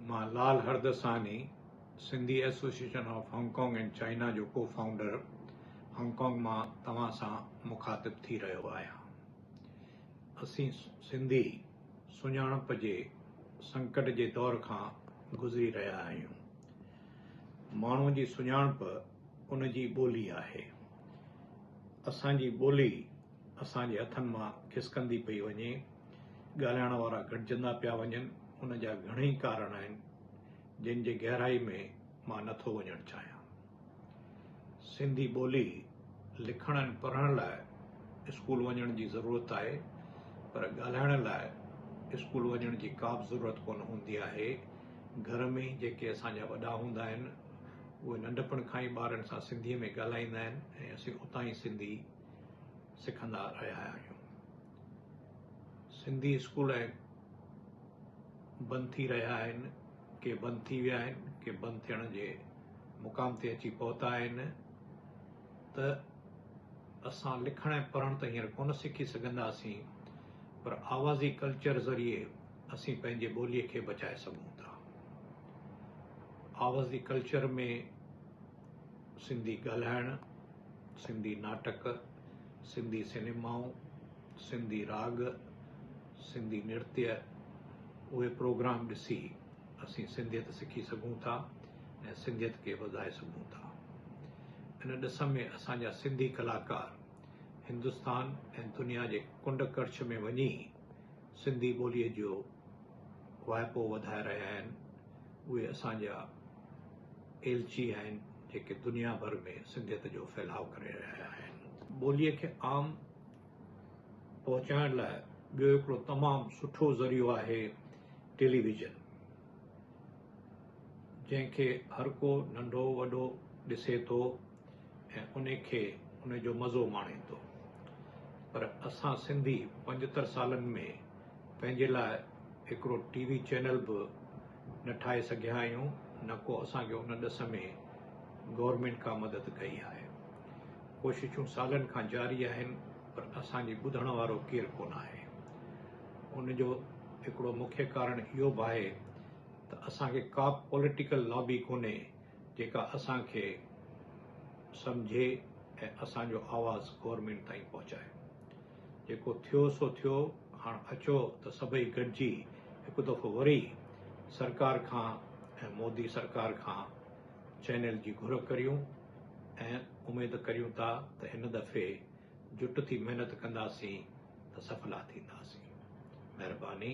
مان Lal Hardasani Sindhi association of Hong Kong and China جو co founder Hong Kong مان توهان سان مخاطب ٿي رهيو آهيان اسين سنڌي سڃاڻپ جي سنڪٽ جي دور کان گذري رهيا آهيون ماڻهو جي سڃاڻپ ان جي ٻولي آهي اسان جي ٻولي اسان جي هٿن مان کسڪندي پئي وڃي، ڳالهائڻ وارا گهٽجندا پيا وڃن، ان جا گهڻئي ڪارڻ آهن، جن جي گهرائي ۾ مان نه ٿو وڃڻ چاهيان. سنڌي ٻولي لکڻ ۽ پڙهڻ لاء اسڪول وڃڻ جي ضرورت آهي، پر ڳالهائڻ لاء اسڪول وڃڻ جي ڪابه ضرورت ڪونه هوندي آهي، گهر ۾ ئي جيڪي اسان جا وڏا هوندا آهن، اهي ننڍپڻ کان ئي ٻارن سان سنڌيء ۾ ڳالهائيندا آهن ۽ اسين اتان ئي سنڌي سکندا رهيا آهيون سنڌي اسڪول ۽ بند ٿي رهيا آهن ڪي بند ٿي ويا آهن ڪي بند ٿيڻ جي مقام تي اچي پهتا آهن ته اسان لکڻ ۽ پڙهڻ ته هينئر ڪونه سکي سگهنداسين پر آوازي ڪلچر ذريعي اسين پنهنجي ٻوليء کي بچائي سگهون ٿا آوازي ڪلچر ۾ سنڌي ڳالهائڻ، سنڌي ناٽڪ، سنڌي سينيمائون، سنڌي راڳ، سنڌي نرتيه اهي پروگرام ڏسي اسين سنڌيت سکي سگهون ٿا ۽ سنڌيت کي وڌائي سگهون ٿا. ان ڏس ۾ اسان جا سنڌي ڪلاڪار هندستان ۽ دنيا جي ڪنڊ ڪڙڇ ۾ وڃي سنڌي ٻوليء جو واهپو وڌائي رهيا آهن. اهي اسان جا ايلچي آهن جيڪي دنيا ڀر ۾ سنڌيت جو ڦهلاء ڪري رهيا آهن. ٻوليء کي عام پهچائڻ لاء ٻيو هڪڙو تمام سٺو ذريعو آهي ٽيليويزن جنهن کي هر ڪو ننڍو وڏو ڏسي ٿو ۽ ان کي ان جو مزو ماڻي ٿو پر اسان سنڌي پنجتر سالن ۾ پنهنجي لاء هڪڙو ٽي وي چينل به نه ٺاهي سگهيا آهيون نه ڪو اسان کي ان ڏس ۾ گورنمينٽ ڪا مدد ڪئي آهي ڪوششون سالن کان جاري آهن پر اسان جي ٻڌڻ وارو ڪير ڪونه آهي ان جو هڪڙو مکيه ڪارڻ اهو به آهي ته اسان کي ڪا پوليٽيڪل لابي ڪونهي جيڪا اسان کي سمجهي ۽ اسان جو آواز گورنمينٽ تائين پهچائي جيڪو ٿيو سو ٿيو، هاڻ اچو ته سڀئي گڏجي هڪ دفعو وري سرڪار کان ۽ مودي سرڪار کان چئنل جي گهر ڪريون ۽ اميد ڪريون ٿا ته هن دفعي جٽ ٿي محنت ڪنداسين ته سڦلا ٿينداسين. مهرباني.